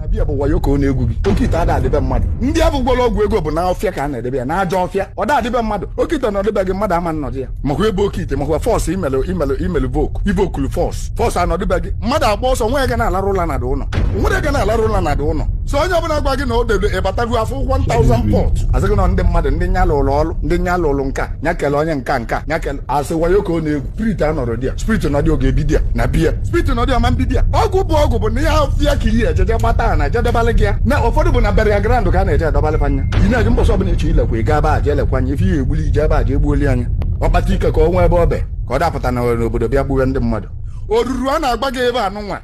abịa bụ wayo ka ọ na-egwu gị oke ite ada adị be mmadụ ndị a bụgwara ọgwụ ego bụ na ọfịa ka a na-edebe ya na ajọ ọfịa ọ da adị be mmadụ oke ite na ọ dị be gị mmadụ ama nọdụ ya makwa ebe oke ite makwa force imelụ imelụ imelụ invoke invokulu force force anọdị be gị mmadụ agba ọsọ nwa ya ga na-alarụ ụla na dị ụlọ nwere ya ga na-alarụ ụla na dị ụlọ so onye ọbụla gwa gị na o debe ịbatago afọ 1000 pot asị gị na ndị mmadụ ndị nya lụrụ ọrụ ndị nya lụrụ nka nya kele onye nka nka nya kele asị wayo ka ọ na-egwu spirit anọrọ there spirit nọ there ọ ga-ebi there na be ya spirit nọ there ọ ma ebi there ọgwụ bụ ọgwụ bụ na ọfịa ka iyi ejeje gbata a na ejedebalị gị ya na ụfọdụ bụ na burial ground ka a na-eje adọbalị fa nya ị na-eji mbọsị ọbụla eche ilekwa ị gaa ba je elekwa anya ife ihe egbuli ije ebe a je egbuoli anya ọ kpata ike ka ọ nwee ebe ọ be ka ọ dapụta na n'obodo bịa gbuwe ndị mmadụ oruru a na-agwa gị ebe anụnwa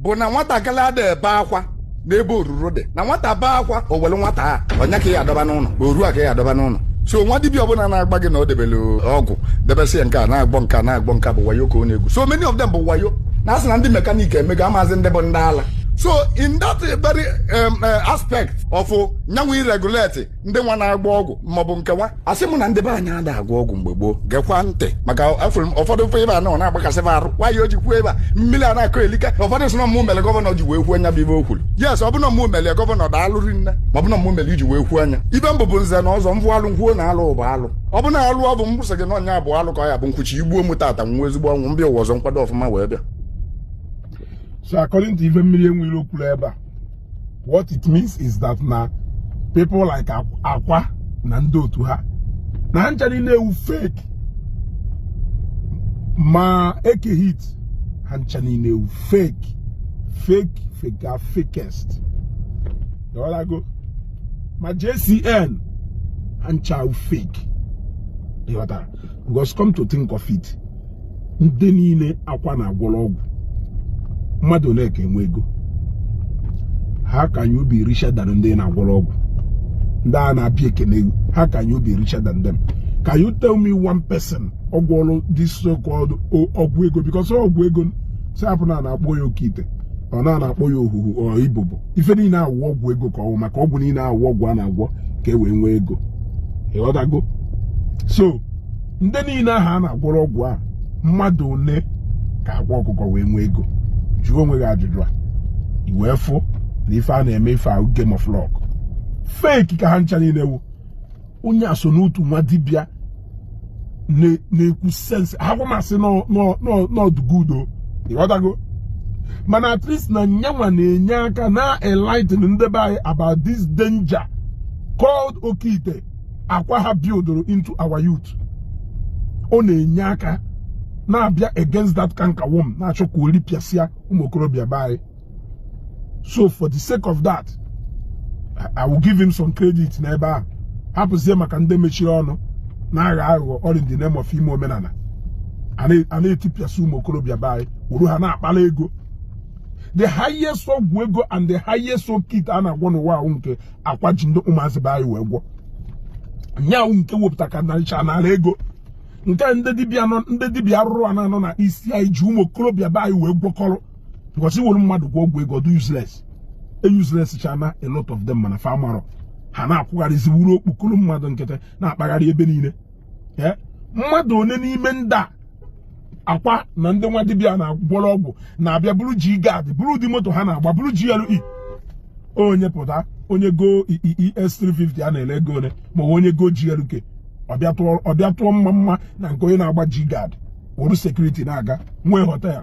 bụ na nwatakịrị ada ebe akwa n'ebe oruru dị na nwata bee akwa o were nwata a onye ka ya adọba n'ụlọ oru a ka ya adọba n'ụlọ so nwa dibia ọbụla na-agwa gị na o debere ọgwụ debesị ya nke a na-agwọ nke a na-agwọ nke a bụ wayo ka ọ na-egwu so many of them bụ wayo na asị na ndị mechanic emego amazị ndị bụ ndị ala so in that very um, uh, aspect of nyanwụ iregulate ndị nwa na-agwọ ọgwụ maọbụ nke nwa asị m na ndị be anyị ada agwọ ọgwụ mgbe gboo gekwa ntị maka afụrụ m ụfọdụ ife ebe a na-agbakasị m arụ nwaanyị o ji kwuo ebe a mmiri a na-akọ elika ụfọdụ sị na mmụ mere governor ji wee kwuo nya bụ ife o kwuru yes ọ bụ na mmụ mere governor daalụ rinne ma ọ bụ na mmụ mere iji wee kwuo nya ife m bụ bụ nze na ọzọ m vụ alụ m kwuo na alụ bụ alụ ọ bụ na alụ ọ bụ mgbụsị gị na ọnya abụ alụ ka ọ ya bụ nkwuchi i gbuo m tata nwụọ ezigbo ọnwụ m bịa ụwa ọzọ m kwado ọfụma wee bịa So according to ife Mmiri Enwe Iro kwuru ebe a what it means is that na people like Akwa na ndị otu ha na ha ncha niile wụ fake ma Eke Hit ha ncha niile wụ fake fake faker fakest ịghọtago ma JCN ha ncha wụ fake ịghọtara because come to think of it ndị niile Akwa na-agwọrọ ọgwụ mmadụ ole ka enwe ego how can you be richer than ndị na-agwọrọ ọgwụ ndị a na-abịa ekene how can you be richer than them can you tell me one person ọ gwọrọ this so called ọgwụ ego because ọgwụ ego sị hapụ na na-akpọ ya oke ite ọ na na-akpọ ya ohuhu or ibobo ife niile awụ ọgwụ ego ka ọ wụ maka ọgwụ niile awụ ọgwụ a na-agwọ ka e wee nwee ego ịghọtago so ndị niile ahụ a na-agwọrọ ọgwụ a mmadụ ole ka Akwa Ọkụkọ wee nwee ego jụọ onwe gị ajụjụ a ị wee fụ na ife a na-eme ife a wụ game of luck fake ka ha ncha niile wụ onye a so n'otu nwa dibịa na-ekwu sense aga m asị n'ọdụgudo ịghọtago mana at least na nyanwa na-enye aka na enlighten ndị be anyị about this danger called okite akwa ha buildoro into our youth ọ na-enye aka na-abịa against that cankerworm na-achọ ka o ripịasịa ụmụ okorobịa be anyị so for the sake of that I will give him some credit n'ebe a hapụzie maka ndị mechiri ọnụ na-aghọ aghụghọ all in the name of ime omenala a na-etipịasị ụmụ okorobịa be anyị wuru ha na-akpala ego the highest ọgwụ ego and the highest okite a na-agwọ n'ụwa a wụ nke akwa ji ndị ụmụazị be anyị wee gwọ nya wụ nke wepụta ka naricha nara ego nke ndị dibịa nọ ndị dibịa arụrụ ana nọ na isi anyị ji ụmụ okorobịa be anyị wee gwọkọrọ because i were mmadụ gwọ ọgwụ ego dị useless e useless chana a lot of them mana fa amarọ ha na-akwụgharịzi wụrụ okpokoro mmadụ nkịtị na-akpagharị ebe niile eh, mmadụ one n'ime ndị a akwa na ndị nwa dibịa na-agwọrọ ọgwụ na-abịa buru G-Guard buru ụdị moto ha na-agba buru GLE onye pụta onye go ES 350 a na-ele ego one ma onye go GLK ọ bịa tụọ mma mma na nke onye na-agba G-Guard wuru security na-aga nwee hotel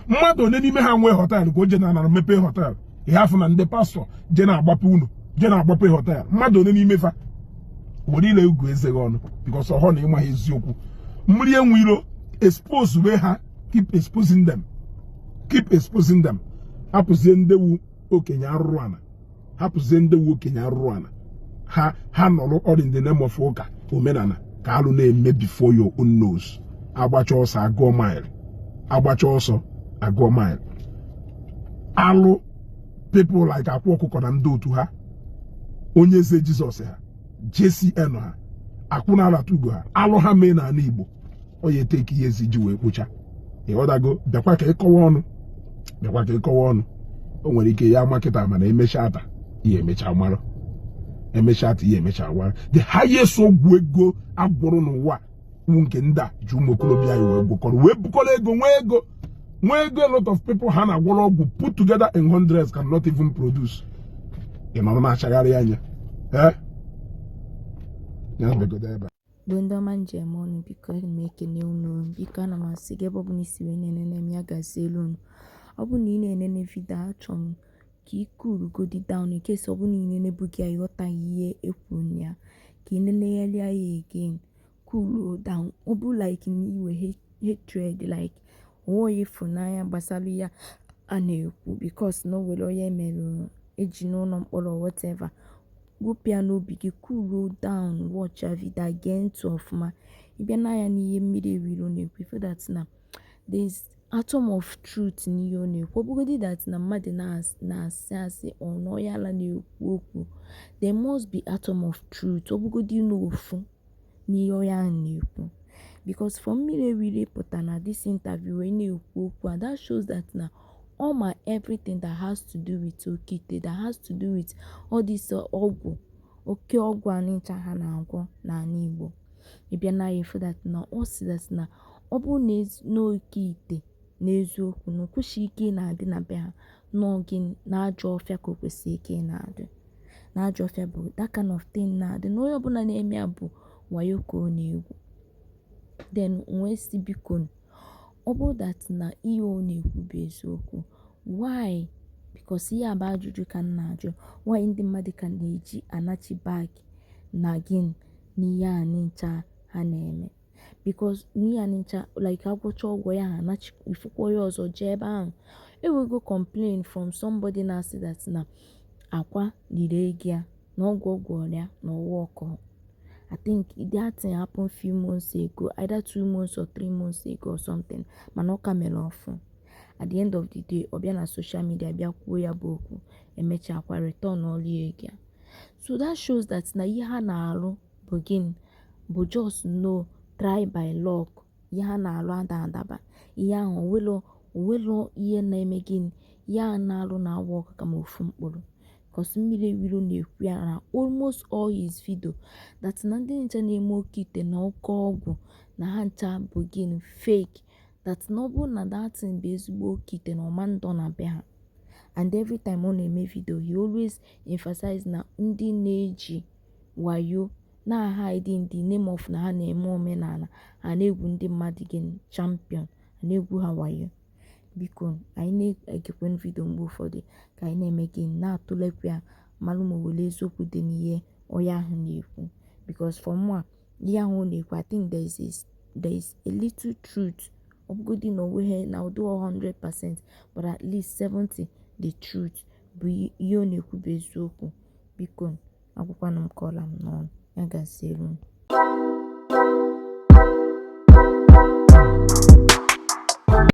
mmadụ one n'ime ha nwee hotel ka o je na anara mepee hotel ị ya-afụ na ndị pastor je na-agbape ụnọ je na-agbape hotel mmadụ one n'ime fa were ile gụọ eze gị ọnụ because ọhọ na ị maghị eziokwu mmiri enwe iro exposewe ha keep exposing them keep exposing them hapụzie ndị wụ okenye arụrụ ana hapụzie ndị wụ okenye arụrụ ana ha ha nọrọ all in the name of ụka omenala ka alụ na-eme before your own nose a gbachaa ọsọ a gụọ mile a gbachaa ọsọ a gụọ mile alụ people like akwa ọkụkọ na ndị otu ha onye eze Jesus ha JCN ha akwụna alata ugo ha alụ ha mee n'ala igbo ọ ya-etake years e ji wee kpochaa ị ghọtago bịakwa ka ị kọwa ọnụ bịakwa ka ị kọwa ọnụ o nwere ike ị ya-ama kịta mana I'm sure that ị ya-emecha mara I'm sure that ị ya-emecha mara the highest ọgwụ ego a gwọrọ n'ụwa wụ nke ndị a ji ụmụ okorobịa anyị wee gwọkọrọ wee bukọrọ ego nwee ego nwee ego a lot of people ha na-agwọrọ ọgwụ put together in hundreds can not even produce ị nọrọ na-achagharị anya eh? bụ ndị ọma m ji eme ọnụ biko ana m ekene unu biko ana m asị gị ebe ọ bụla i si wee na-enene m ya gazielu unu ọ bụ na ị na-enene video achọrọ m ka ị coolugodi down in case ọ bụ na ị na-enebu gị ya ị ghọtaghị ihe e kwuru na ya ka ị nenegharịa ya again coolu down ọ bụ like na iwe hatred like o nwe onye ị fụ n'anya gbasara ya a na-ekwu because na o nwere onye mere e ji n'ụlọ mkpọrọ whatever gụpụ ya n'obi gị coolu down watchịa video gee ntị ọfụma ị bịa nee anya n'ihe mmiri enwe iro na-ekwu so that na there is atom of truth n'ihe ọ na-ekwu ọ bụgodị that na mmadụ na-asị asị or n'onye ala na-ekwu okwu there must be atom of truth ọ bụgodị na ofu n'ihe onye ahụ na-ekwu because for Mmiri Enweiro pụta na this interview wee na-ekwu okwu and that shows that na ọ ma everything that has to do with oke ite that has to do with all this uh, ọgwụ oke ọgwụ a ncha ha na-agwọ n'ala Igbo ị bịa na ya ị fụ that na ọ sị that na ọ bụrụ na n'oke ite n'eziokwu na o kwesịghị ike ị na-adị na be ha n'oge na ajọ ọfịa ka o kwesịrị ike ị na-adị na ajọ ọfịa bụ that kind of thing na-adị na onye ọbụla na-eme ya bụ wayo ka ọ na-egwu then m wee sị biko ọ bụrụ that na ihe ọ na-ekwu bụ eziokwu why because ihe a bụ ajụjụ ka m na-ajụ why ndị mmadụ ka na-eji anachi back again n'ihe a ncha ha na-eme because n'ihe a ncha like agwọcha ọgwụ a ha anachi ị fụkwa onye ọzọ jee ebe ahụ e nwego complain from somebody na-asị that na Akwa liri ego ya na ọgwụ ọ gwọọrọ ya na ọ workrọ I think that thing happened few months ago either two months or three months ago or something mana ọ ka mere ọfụụ at the end of the day ọ bịa na social media bịa kwuo ya bụ okwu emechakwa return all ego ya so that shows that na ihe ha na-arụ bụ gịnị bụ just na try by luck ihe ha na-alụ ada adaba ihe ahụ o nwelọ o nwelọ ihe na-eme gịnị ihe ha na-alụ na-awork kama ofu mkpụrụ because Mmiri Enweiro na-ekwu ya na almost all his video that na ndị ncha na-eme oke ite na oke ọgwụ na ha ncha bụ gịnị fake that na ọ bụrụ na that thing bụ ezigbo oke ite na ọ ma ndọ na be ha and every time ọ na-eme video he always emphasize na ndị na-eji wayo, na-hide in the name of na ha na-eme omenala, ha na-egwu ndị mmadụ gịnị? Champion, ha na-egwu ha wayo. Biko anyị na-egekwanụ vidio mgbe ụfọdụ ka anyị na-eme gịnị? Na-atụlekwa ya mara ma o nwere eziokwu dị n'ihe onye ahụ na-ekwu because for mụ a ihe ahụ ọ na-ekwu I think there is a, there is a little truth ọ bụgodị na o nweghị na ọ dịghị 100% but at least 70 the truth bụ ihe ọ na-ekwu bụ eziokwu biko agwụkwanụ m ka ọ la m n'ọnụ ya gaziere unu